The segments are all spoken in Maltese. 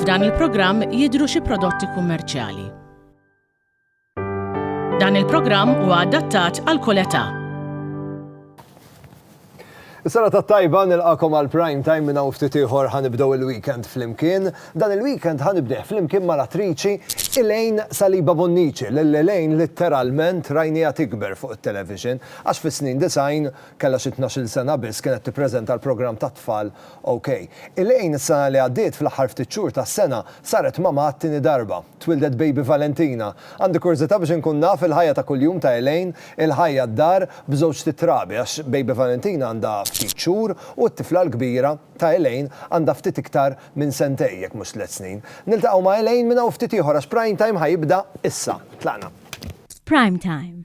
F'dan il-programm jidhru xi prodotti kummerċjali. Dan il-programm huwa adattat għal kull età. Is-sena tat-tajba, nilqagħkom għal Prime Time minn hawn ftit ieħor ħa nibdew il-weekend flimkien. Dan il-weekend ħa nibdih flimkien mal-attriċi Elaine Saliba Bonnici lil Elaine litteralment rajniha tikber fuq it-television għax fis-snin disgħin kellha xi tnax-il sena biss kienet tippreżenta l-programm tat-tfal OK. Elaine is-sena li għaddiet fl-aħħar ftit xhur tas-sena saret mamà għat-tieni darba. Twieldet baby Valentina. Għandi kurżità biex inkun naf il-ħajja ta' kuljum ta' Elaine, il-ħajja d-dar b'żewġt it-trabi għax baby Valentina għandha ftit xhur u t-tifla l-kbira ta' Elaine għandha ftit iktar minn sentejn jekk mhux tliet snin. Niltaqgħu ma' Elaine minn hawn ftit ieħor għax Prime Time ħa jibda issa. Tlaqna. F'Prime Time,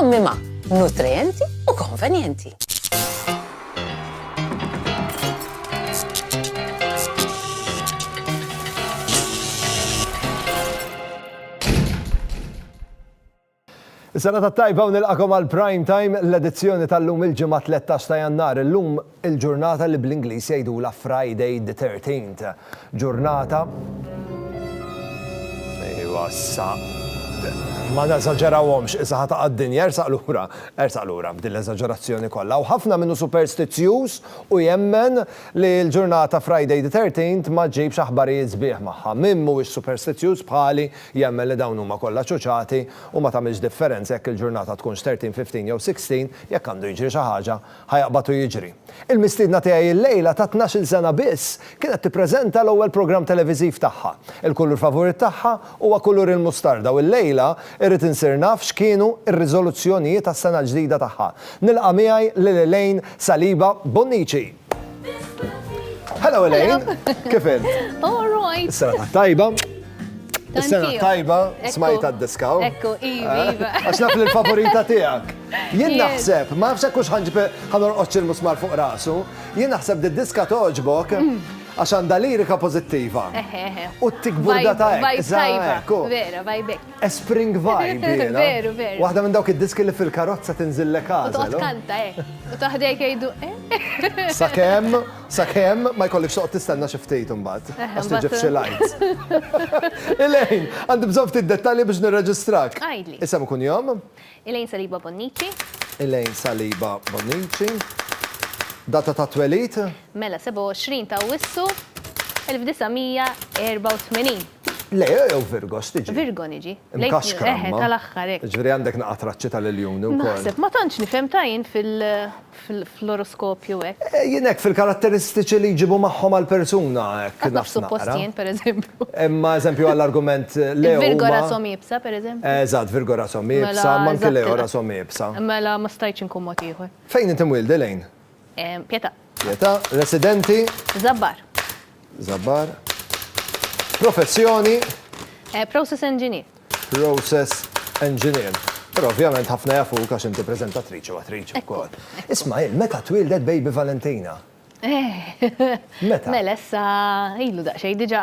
Ommima, nutrienti u konvenjenti. Is-sena ta' tajba u nilqakom għal prime time l-edizzjoni tal-lum il-ġimgħa 13 ta' Jannar. Illum Il-ġurnata li bl-Ingliż jgħidulha Friday the thirteenth. Ġurnata Ejwa issa. Ma neżaġerawhomx, issa ħa taqa' d-dinja, ersaq lura, ersaq lura b'din l-eżaġerazzjoni kollha. U ħafna minnu superstizzjuż u jemmen li l-ġurnata Friday the thirteenth ma ġġibx aħbarijiet sbieħ magħha. Min mhuwiex superstizzjuż bħali jemmen li dawn huma kollha ċuċati u ma tagħmilx differenza jekk il-ġurnata tkunx thirteen, fifteen jew sixteen, jekk għandu jiġri xi ħaġa Ħa jaqbad u jiġri. Il-mistiedna tiegħi illejla ta' tnax-il sena biss kienet tippreżenta l-ewwel programm televiżiv tagħha. Il-kulur favurit tagħha huwa kulur il-mustarda u llejla irrid insir naf x'kienu r-riżoluzzjonijiet għas-sena l-ġdida tagħha. Nilqa' miegħi lil Elaine Saliba Bonnici! Hello Elaine! Kif int? All right! Is-sena t-tajba! Is-sena t-tajba smajta d-diskaw. Ekku, iva, iva. Għax naf li l-favorita tiegħek. Jien naħseb, ma nafx hekk hux ħanġib ħa norqod xi l-musmar fuq rasu, jien naħseb di diska togħġbok għax għandha lirika pożittiva. U t-tikburda ta' hekk. Vibe tajba. Vera, vibe hekk. A spring vibe. Veru, veru. Waħda minn dawk id-diski li fil-karozza tinżillek għażel. Toqgħod kanta hekk. U taħdejk jgħidu eh. Sakemm, sakemm ma jkollikx toqgħod tistenna xi ftit imbagħad. Għax tiġib xi lights. Ilejn, għandi bżonn ftit dettalji biex nirreġistrak. Għidli. Isem ikun jom? Elaine Saliba Bonnici. Elaine Saliba Bonnici. Data ta' twelid? Mela, 27 ta' Awwissu 1984. Le, jew Virgo, x'tiġi? Virgo niġi. Mkaxkra imma. Eħe, tal-aħħar hekk. Jiġifieri għandek naqa' traċċi tal-iljuni wkoll. Naħseb, ma tantx nifhem ta' jien fl-oroskopju hekk. Jien hekk fil-karatteristiċi li jġibu magħhom għall-persuna hekk. Hekk naf suppost jien pereżempju. Imma eżempju għall-argument Leo. Il-Virgo rashom iebsa pereżempju. Eżatt, Virgo rashom iebsa, imma anke Leo rashom iebsa. Mela ma stajtx inkun mod ieħor. Fejn inti mwielda Elaine? Pietà. Pietà, residenti? Żabbar. Żabbar. Professjoni? Process engineer. Process Engineer. Però ovvjament ħafna jafuk għax inti preżentatriċi u attriċi wkoll. Ismagħil, meta twieldet baby Valentina? Meta? Mela issa ilu daqsxejn diġà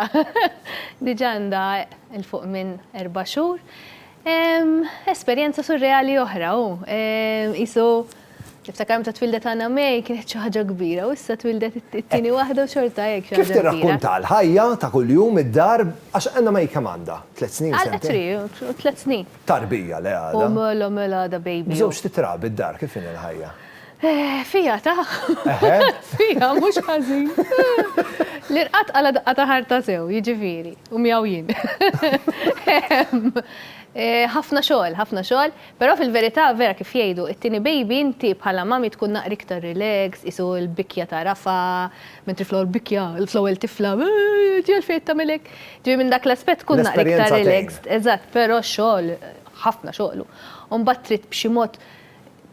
diġà għandha 'l fuq minn erba' xhur. Esperjenza surreali oħra hu. Qisu Niftakar meta twildet Anna May kienet xi ħaġa kbira u issa twildet it-tieni waħda u xorta hekk xi ħaġa kbira. Kif tirrakkunta l-ħajja ta' kuljum id-dar għax Anna May kemm għandha? Tliet snin, sentejn? Għal three, tliet snin. Tarbija le għadha. U mela mela għadha baby. B'żewġ titrabi d-dar kif inhi l-ħajja? Fiha ta'. Eħe. Fiha mhux ħażin. L-irqad qala daqqa ta' ħarta sew, jiġifieri, u miegħu jien. Ħafna xogħol, ħafna xogħol. Però fil-verità vera kif jgħidu, it-tieni baby inti bħala mommy tkun naqra iktar relax, qisu l-bikkja ta' Rafa, mentri fl-ewwel bikkja, fl-ewwel tifla, eehh, ti għalfejn qed tagħmel hekk? Ġifieri minn dak l-aspett tkun naqra iktar relaxed, eżatt, però x-xogħol, ħafna xogħol hu. U mbagħad trid b'xi mod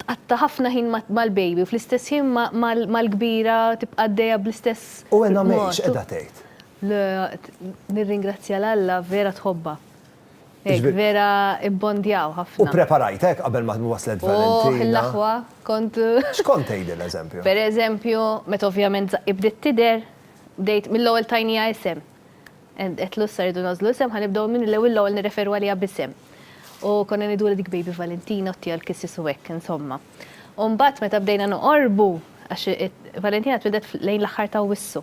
tqatta' ħafna ħin mal-baby u fl-istess ħin mal-kbira tibqa' għaddejja bl-istess mod. U Ena May x'qiegħda tgħid? Le, nirringrazzja 'l Alla vera tħobbha. Hekk vera ibbondjaw ħafna. U preparajtek qabel ma waslet Valentina? Oh, l-aħwa, kont. X'kont tgħidilha eżempju? Per eżempju, meta ovvjament żaqqi bdiet tidher, bdejt mill-ewwel tajnija isem. Qed lussa rridu nażlu isem, ħanibdew minn l-ewwel l-ewwel nirreferu għaliha b'isem. U konna ngħidu dik baby Valentina u tija l-kissis u hekk, insomma. U mbagħad meta bdejna noqorbu, għax Valentina twieldet lejn l-aħħar ta' Awwissu,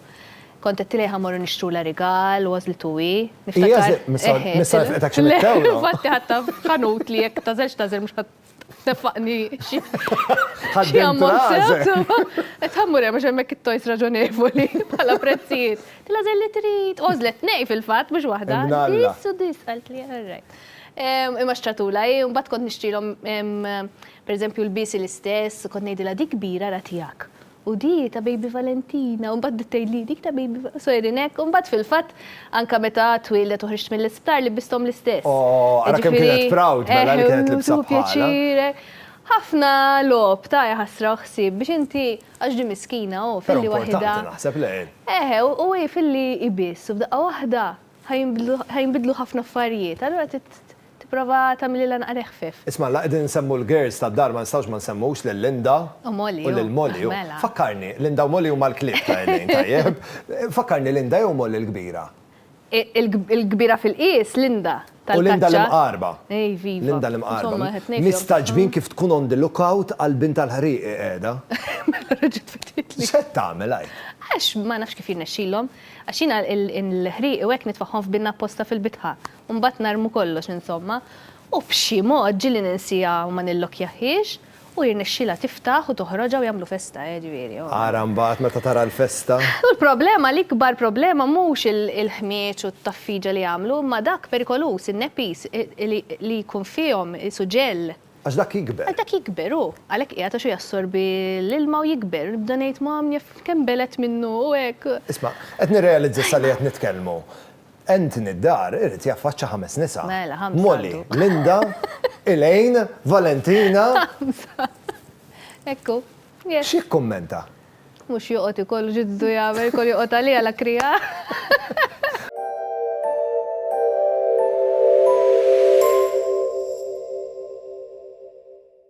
kont għedtilha jekk ħammorru nixtrulha rigal, għożlitu hi, niftakar. Infatti ħadtha f'ħanut li jekk tagħżilx tagħżel mhux ħadd tneffaqni xi ammont sew. Qed ħammur hemm għax hemmhekk it-tojs raġonevoli bħala prezzijiet. Tilha żel li trid, għożlet nej fil-fatt mhux waħda. Dis u dis qaltli all right. Imma xtratula hi, mbagħad kont nixtrilhom Pereżempju lbiesi l-istess, kont ngħidilha dik kbira ra tiegħek. U di ta' Baby Valentina, u mbagħad tgħidli dik ta' Baby Valentina, sejrin hekk, u mbagħad fil-fatt anke meta twieldet u ħriġt mill-isptar libisthom l-istess. Oh, ara kemm kienet proud mela li kienet libsa bħalha. Eħe, u tieħu pjaċir. Ħafna logħob ta' jaħasra u ħsieb biex inti, għax di miskina hu filli waħidha. Però importanti naħseb le. Eħe, u hi filli hi biss u f'daqqa waħda ħa jinbidlu ħafna affarijiet, allura trid Tipprova tagħmililha naqra iħfif. Isma', la qegħdin insemmu l-girls tad-dar ma nistgħux ma nsemmux lil Linda. U Molly, hu. U lil Molly, hu. Mela. Fakkarni, Linda u Molly huma l-klieb ta' Elaine, tajjeb. Fakkarni, Linda jew Molly l-kbira? Il-kbira fil-qies, Linda, tal-kaċċa. U Linda l-imqarba. Iviva. Linda l-imqarba. Insomma, it-tnejn fihom tagħhom. Mistagħġbin kif tkun on the look out għal bint tal-ħrieq hi qiegħda. Mela reġgħet fetħitli. X'qed tagħmel hi? Għax ma nafx kif jirnexxilhom. Għax jiena l-ħrieq u hekk nitfagħhom f'binna apposta fil-bitħa. u mbagħad narmu kollox insomma, u b'xi mod ġieli ninsiha u ma nillokkjahhiex u jirnexxielha tiftaħ u toħroġha u jagħmlu festa eh ġifieri oh. Ara mbagħad meta tara l-festa. U l-problema, l-ikbar problema mhux il-ħmieġ u t-taffiġa li jagħmlu imma dak perikoluż, in-nepis li jkun fihom, is-suġell. Għax dak jikber. Għax dak jikber hu, għalhekk qiegħed għax hu jassorbi l-ilma u jikber, nibda ngħid mom jaf kemm belgħet minnu u hekk. Isma', qed nirrealizza sa li qed nitkellmu. Anthony d-dar irid jaffaċċa ħames nisa. Mela, ħamsa Molly, għadu. Linda, Elaine, Valentina. Ħamsa. Ekku. Yes. X'jikkummenta? Mhux joqgħod ikollu ġiddu jagħmel kol joqgħod għaliha la krija.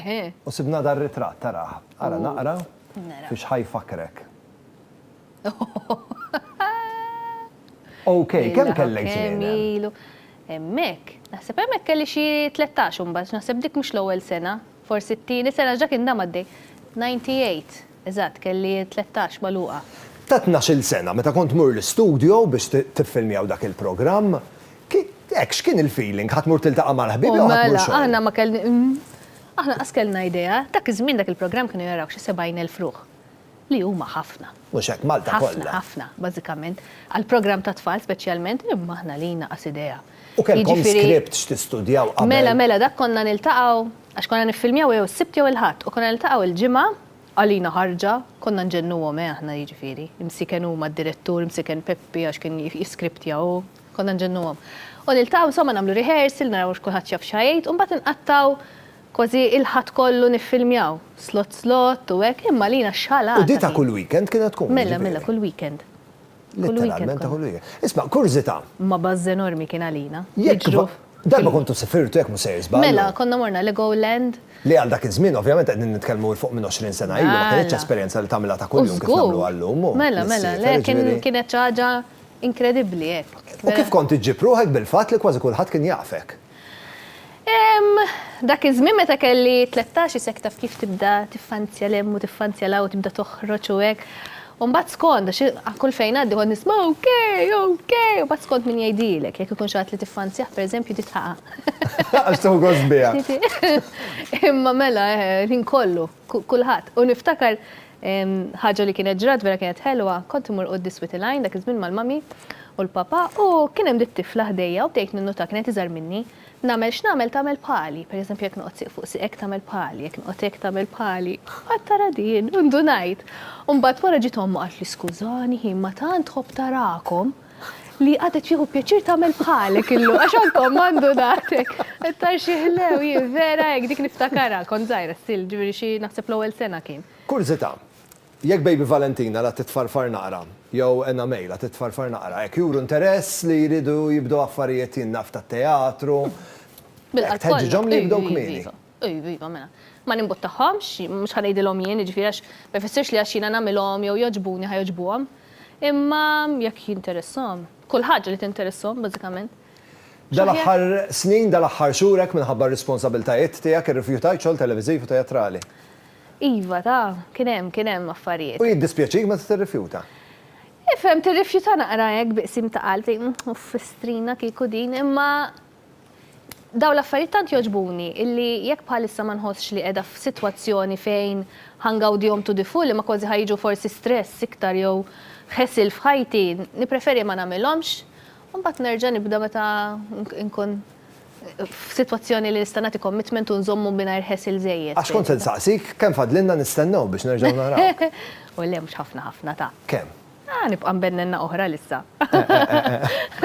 Eħe. U sibna dan ritratt, arah. Ara naqra fiex ħa jfakkrek. Ok, kemm kellek snin? Ilu. Hemmhekk, naħseb hemmhekk kelli xi 13 imbagħad, naħseb dik mhux l-ewwel sena, forsi t-tieni sena ġa kien dam għaddej. 98, eżatt, kelli 13 magħluqa. Ta' tnax-il sena, meta kont tmur l-istudio biex tiffilmjaw dak il-programm, Hekk, x'kien il-feeling? Ħa tmur tiltaqa' mal-ħbieb jew ħa tmur xogħol? O mela, aħna ma kelln, aħna qas kellna idea. Dak iż-żmien dak il-programm kienu jarawh xi 70,000 ruħ, li huma ħafna. Mhux hekk, Malta kollha. Ħafna, ħafna, bażikament. Għal programm ta' tfal speċjalment, imma aħna lina qas idea. U kellkom script x'tistudjaw qabel? Mela, mela, dak konna niltaqgħu, għax konna niffilmjaw jew is-Sibt jew il-Ħadd, u konna niltaqgħu l-Ġimgħa, għalina ħarġa, konna nġennuhom eh aħna jiġifieri, imsiken huma d-direttur, imsiken Peppi għax kien jiskriptja hu, Konna nġennuhom. U niltaqgħu insomma nagħmlu rehearsal, naraw hux kulħadd jaf x'ha jgħid, u mbagħad inqattgħu kważi il-Ħadd kollu niffilmjaw, slott slott u hekk, imma għalina x'ħalata kien. U di ta' kull weekend kienet tkun? Mela, mela, kull weekend. Letteralment ta' kull weekend. Isma', kurżità. Ma buzz enormi kien għalina. Jekk darba kontu sifirtu, jekk mhux sejjer żball. Mela, konna morna Legoland. Li għal dak iż-żmien ovvjament qegħdin nitkellmu 'l fuq minn għoxrin sena ilu, ma kinitx esperjenza li tagħmilha ta' kuljum kif nagħmluha llum. Mela, mela, le kienet xi ħaġa Inkredibbli, hekk. U kif kont iġġib ruħek bil-fatt li kważi kulħadd kien jafek? Dak iż-żmien meta kelli tlettax isek taf kif tibda tiffanzja 'l hemm u tiffanzja 'l hawn u tibda toħroġ u hekk. U mbagħad skont, għax kull fejn ngħaddi kont nisma' okej, okej, u mbagħad skont min jgħidilek, jekk ikun xi ħadd li tiffanzjah pereżempju titħaqaq. Għax tieħu gost biha. Imma mela, ħin kollu. kulħadd. U niftakar ħaġa li kienet ġrat vera kienet ħelwa, kont imur quddis Whittle Line dak iż-żmien mal-mami u l-papa u kien hemm dik tifla ħdejja u bdejt ninnota kienet iżgħar minni, nagħmel x'nagħmel tagħmel bħali, per eżempju jekk noqgħod sieq fuq sieqek tagħmel bħali, jekk noqgħod hekk tagħmel bħali, qatt tara din, u ndunajt. U mbagħad wara ġiet omma u qaltli skużani ħin ma tant tħobb tarakom. Li għadha tieħu pjaċir tagħmel bħalek illum għax għandkom għandu daqtek. Tar xi ħlew hi vera hekk dik niftakarha kont żgħira still ġifieri xi naħseb l-ewwel sena kien. Kurżità, jekk Baby Valentina la titfarfar naqra jew Anna May la titfarfar naqra hekk juru interess li jridu jibdew affarijiet jien naf tat-teatru. Bil-qalb kollha. Tħeġġiġhom li jibdew kmieni. Iva, iva, mela. Ma nimbuttahomx, mhux ħa ngħidilhom jien, jiġifieri għax ma jfissirx li għax jiena nagħmilhom jew jogħġbuni ħa jogħġbuhom. Imma jekk jinteressahom. Kull ħaġa li tinteressahom, bażikament. Dal-aħħar snin, dal-aħħar xhur hekk minħabba r-responsabiltajiet tiegħek irrifjutajt xogħol televiżiv u teatrali. Iva, ta, kien hemm, kien hemm affarijiet. U jiddispjaċik meta tirrifjuta? Ifhem, tirrifjuta naqra hekk bi qsim ta' qalb, tgħid, uff, fistrina kieku din, imma. Dawn l-affarijiet tant jogħġbuni illi jekk bħalissa ma nħossx li qiegħda f'sitwazzjoni fejn ħa ngawdihom to the full imma kważi ħa jiġu forsi stress iktar jew ħesil f'ħajti, nippreferi ma nagħmilhomx u mbagħad nerġa' nibda meta nkun f'sitwazzjoni li nista' nagħti commitment u nżommu mingħajr ħesil żejjed. Għax kont se nsaqsik kemm fadlilna nistennew biex nerġgħu narawk. O le, mhux ħafna ħafna, ta. Kemm? Ah, nibqa' nbennenna oħra l-issa.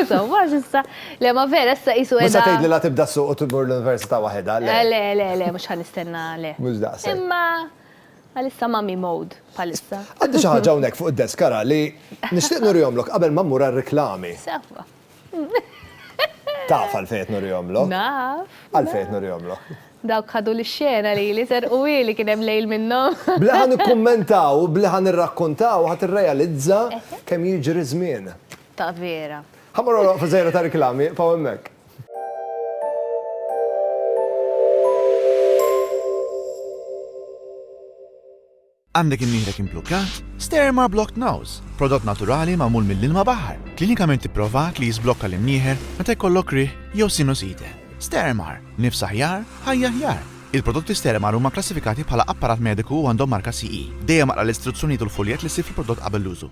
Insomma, s'issa, le ma vera, issa qisu qiegħda. Issa tgħidli la tibda s-suq u tmur l-università waħedha, le. Eh, le, le, le, mhux ħa nistenna, le. Mhux daqshekk. Imma għalissa mummy mode bħalissa. Għandi xi ħaġa hawnhekk fuq id-desk ara li nixtieq nurihomlok qabel ma mmur għar-riklami. Sewwa. Taf għalfejn qed nurihomlok? Naf. Għalfejn qed nurihomlok? Dawk ħadu l-xena li li ser u li kien hemm lejl minnhom. Bli ħa nikkummentaw, bli ħa nirrakkontaw, ħa tirrealizza kemm jiġri żmien. Ta' vera. Ħa morru waqfa żgħira ta' riklami, paw hemmhekk. Għandek imnieħrek implukkat? Sterma Blocked Nose, prodott naturali magħmul mill-ilma baħar, klinikament ipprovat li jiżblokka l-imnieħer meta jkollok riħ jew sinusite. Stermar, nifs aħjar, ħajja aħjar! Il-prodotti Stermar huma kklassifikati bħala apparat mediku u għandhom marka CE. Dejjem aqra l-istruzzjonijiet u l-fuljett li ssib fil-prodott qabel l-użu.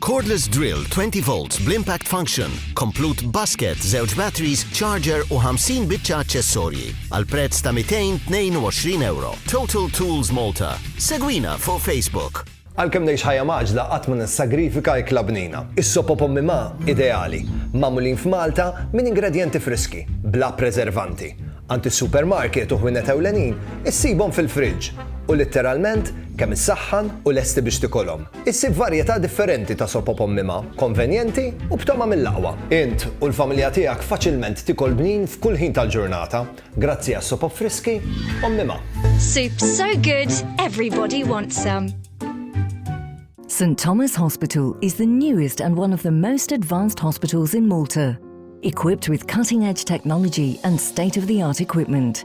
Cordless drill 20 volts bl-impact function, komplut basket, żewġ batteries, charger u 50 biċċa aċċessorji għal prezz ta' 222 euro. Total Tools Malta. Segwina fuq Facebook. Għalkemm ngħix ħajja mgħaġġla qatt ma nissagrifika ikla bnina. Is-sopop ommi ma ideali, magħmulin f'Malta minn ingredjenti friski, bla preservanti. Għand is-supermarket u ħwienet ewlenin issibhom fil-friġġ u litteralment kemm issaħħan u lesti biex tikolhom. Issib varjetà differenti ta' sopop ommima, konvenjenti u b'tama mill-aqwa. Int u l-familja tiegħek faċilment tikol bnin f'kull ħin tal-ġurnata grazzi għas-sopop friski ommima. Soup so good, everybody wants some. St Thomas Hospital is the newest and one of the most advanced hospitals in Malta, equipped with cutting-edge technology and state-of-the-art equipment.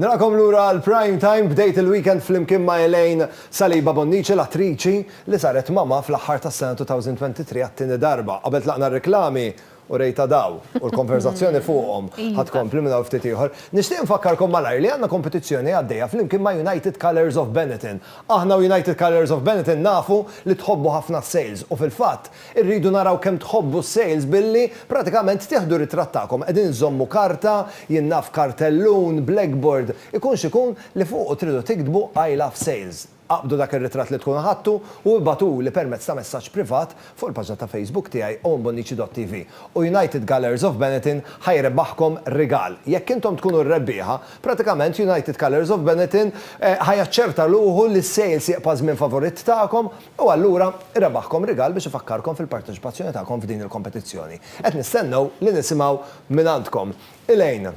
Nilqakom lura għal Prime Time, bdejt il-weekend flimkien ma' Elaine Saliba Bonnici, l-attriċi li saret mamma fl-aħħar tas-sena 2023 għat-tieni darba. Qabel tlaqna r-reklami, urejtha daw, u l-konverżazzjoni fuqhom ħa tkompli minn hawn ftit ieħor. Nixtieq infakkarkom malajr li għandna kompetizzjoni għaddejja flimkien ma' United Colours of Benetton. Aħna u United Colours of Benetton nafu li tħobbu ħafna s-sales u fil-fatt Irridu naraw kemm tħobbu s-sales billi pratikament tieħdu ritratt tagħkom qegħdin iżżommu karta, jien naf kartellun, blackboard, ikun x'ikun li fuqu tridu tiktbu I love sales. Aqbdu dak ir-ritratt li tkunu ħadtu u ibagħtuli permezz ta' messaġġ privat fuq il-paġna ta' Facebook tiegħi Owen Bonnici dott TV u United Colours of Benetton ħa jrebbaħkom rigal. Jekk intom tkunu r-rebbieħa, pratikament United Colours of Benetton ħa jaċċerta ruħu li s-sales jibqa' żmien favorit tagħkom. U allura rebaħkom rigal biex ifakkarkom fil-parteċipazzjoni tagħkom f'din il-kompetizzjoni. Qed nistennew li nisimgħu mingħandkom. Elaine,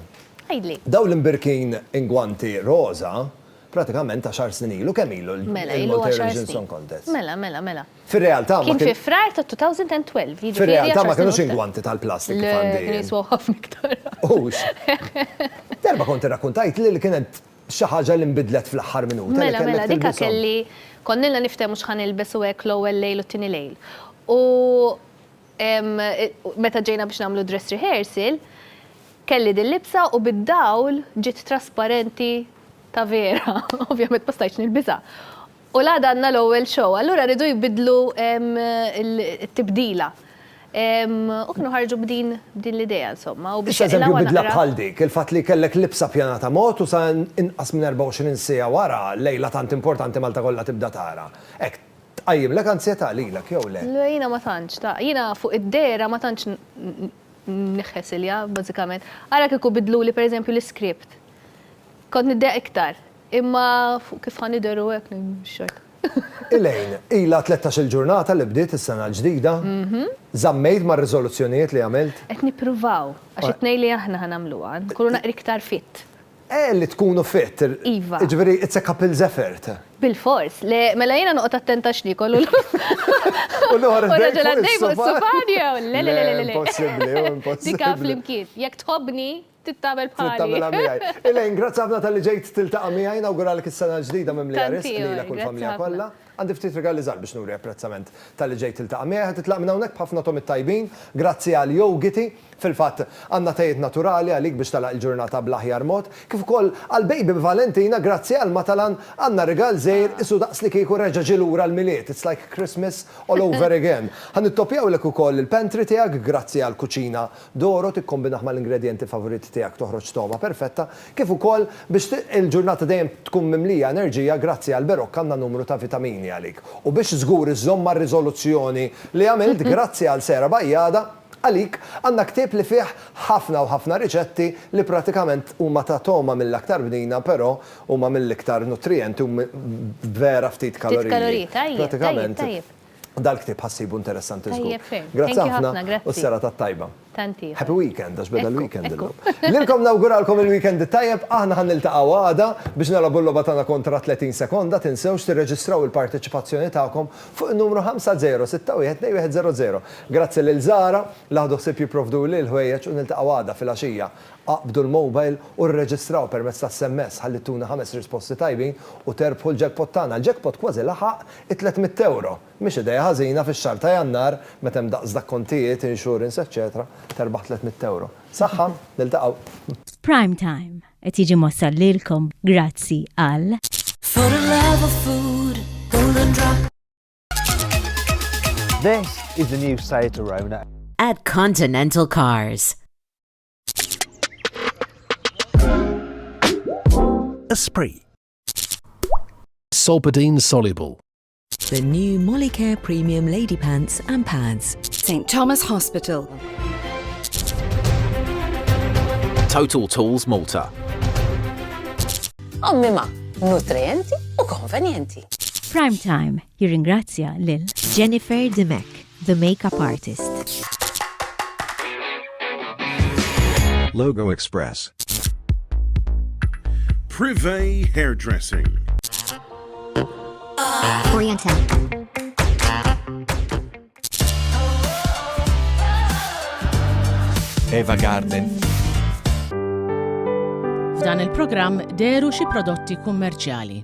Għidli. dawn l-imbirkin ingwanti roża pratikament għaxar snin ilu, kemm ilu l-Multi Mela, ilu Eurovision għaxar Song snin. Contest? Mela, mela, mela. Fir-realtà ma Kien kien fi Frar ta' 2012, jiġifieri Fir-realtà għaxar ma snin kinux u ftit. ingwanti tal-plastik kif Le, għandi kienu jien. jiswew ħafna iktar. Hux. Darba kont irrakkuntajtli li kien hemm Xi ħaġa li nbidlet fl-aħħar minuta li Mela, kellek mela, dika tilbishom. kelli, konnilna niftehmu x'ħa nilbes u hekk l-ewwel lejl u t-tieni lejl. U ehm, meta ġejna biex nagħmlu dress rehearsal, kelli dil-libsa u bid-dawl ġiet trasparenti ta' vera. Ovvjament ma stajtx nilbisha. U l-għada għandna l-ewwel show, allura riedu jbiddlu t-tibdila. U kienu ħarġu b'din l-idea insomma. Issa eżempju bidla bħal dik, il-fatt li kellek libsa pjanata mod u sa inqas minn 24 siegħa wara, lejla tant importanti Malta kollha tibda tara. Hekk tqajjimlek anzjetà lilek jew le? Le jiena ma tantx, jiena fuq id-dehra ma tantx nħħesilha bażikament. Ara kieku biddluli pereżempju l-iskript. Kont niddehha iktar. Imma fuq kif ħa nidheru hekk li mhux hekk. Elaine, ilha tlettax-il ġurnata li bdiet is-sena l-ġdida. Żammejt mar-riżoluzzjonijiet li għamilt? Qed nippruvaw, għax it-tnejn li aħna ħa nagħmluha, nkunu naqra iktar fit. Eh, li tkunu fit. Iva. Jiġifieri it's a couple's effort. Bilfors. Le, mela jiena noqgħod attenta x'niekol u. U noħor id-dejk fuq is-sufan. U noħor id-dejk fuq is-sufan jew le le le le le. Le, impossibbli, impossibbli. Dik għan flimkien. Jekk tħobbni, Trid tagħmel bħali. Trid tagħmilha miegħi. Elaine, grazzi ħafna talli ġejt tiltaqa' miegħi, nawguralek is-sena l-ġdida mimlija riżq lilek u l-familja kollha. Għandi ftit rigali żgħar biex nuri apprezzament talli ġejt tiltaqa' miegħi. Ħa titlaq minn hawnhekk b'ħafna tomit tajbin, grazzi għal yogiti. Fil-fatt, għandna tejiet naturali għalik biex tagħlaq il-ġurnata bl-aħjar mod. Kif ukoll għall-baby Valentina, grazzi għal Matalan, għandna rigal żgħir, isu daqs li kieku reġa' ġie lura l-Milied, it's like Christmas all over again. Ħa nittopjawlek ukoll il-pantry tiegħek, grazzi għall-kuċina Doro tikkombinah mal-ingredjenti favoriti tiegħek toħroġ togħma perfetta kif ukoll biex il-ġurnata dejjem tkun mimlija enerġija grazzi għal Berocca għandna numru ta' vitamini għalik u biex żgur iżżomm mar-riżoluzzjoni li għamilt grazzi għal Sarah Bajada għalik għandna ktieb li fih ħafna u ħafna riċetti li pratikament huma ta' togħma mill-aktar bnina però huma mill-iktar nutrijenti u vera ftit kaloriji pratikament Dal-ktieb ħa ssibu interessanti żgur. Tajjeb ferm. Grazzi Thank you ħafna, ħafna, grazzi. u s-serata t-tajba. Tant ieħor. Happy weekend, għax beda Ekku, l-weekend ekku. illum. Lilkom nawguralkom il-weekend it-tajjeb, aħna ħa niltaqgħu għada biex nilgħabu l-logħba tagħna kontra 30 sekonda, tinsewx tirreġistraw il-parteċipazzjoni tagħkom fuq in-numru 50612100. Grazzi lil Zara li ħadu ħsieb jipprovduli l-ħwejjeġ u niltaqgħu għada fil-għaxija. Aqbdu l-mobile u rreġistraw permezz tas-SMS ħalli ttuna ħames risposti tajbin u terbħu l-jackpot tagħna. L-jackpot kważi laħaq It-tliet mitt ewro mhix idea ħażina fix-xahar ta' Jannar meta hemm daqs dak kontijiet, insurance eċċetera, terbaħ tliet mitt ewro. Saħħa, niltaqgħu. F'Prime Time qed jiġi mwassal lilkom grazzi għal. This is the new Seat Arona. At Continental Cars. Esprit. Solpadeine soluble. The new Molicare Premium Lady Pants and Pads. St Thomas Hospital. Total Tools Malta. Ommima, nutrienti u konvenjenti. Prime Time Jirringrazzja lil Jennifer Dimech, the makeup artist. Logo Express. Privé Hairdressing. Oriental. Eva Garden. F'dan il-programm deru xi prodotti kummerċjali.